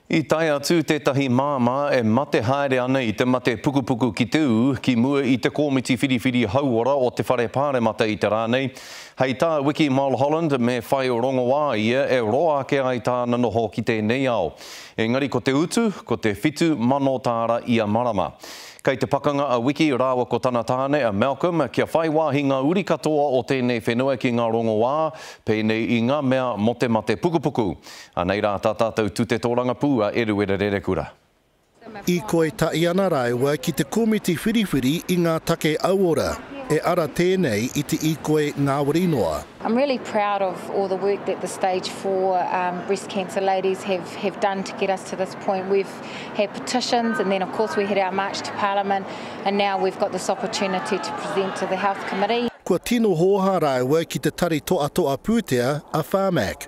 I tae atu tētahi māmā e mate haere ana i te mate pukupuku ki te ū, ki mua i te Kōmiti Whiriwhiri Hauora o te Whare Pāremata i te rā nei. Hei tā Wiki Mulholland, me whai rongoā ia e roa ake ai tāna noho ki tēnei ao. Engari ko te utu, ko te whitu mano tāra ia marama. Kei te pakanga a Wiki rāua ko tana tāne a Malcolm kia whai wāhi ngā uri katoa o tēnei whenua ki ngā rongoā, pēnei i ngā mea mō te mate pukupuku. Anei rā tā tātou tute tōrangapū a Eruera Rerekura. I koi tahi ana rāua ki te komiti whiriwhiri i ngā take auora, e ara tēnei i te i koi ngāwari noa. I'm really proud of all the work that the stage four breast cancer ladies have have done to get us to this point. We've had petitions and then of course we had our march to parliament and now we've got this opportunity to present to the health committee. Kua tino hōhā rāua ki te tari toatoa pūtea a Pharmac.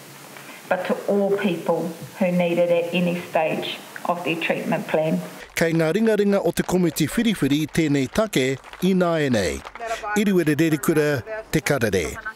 but to all people who need it at any stage of their treatment plan. Kei ngā ringaringa o te komiti whiriwhiri tēnei take ināianei. Iriwere Rerikura, Te Karere.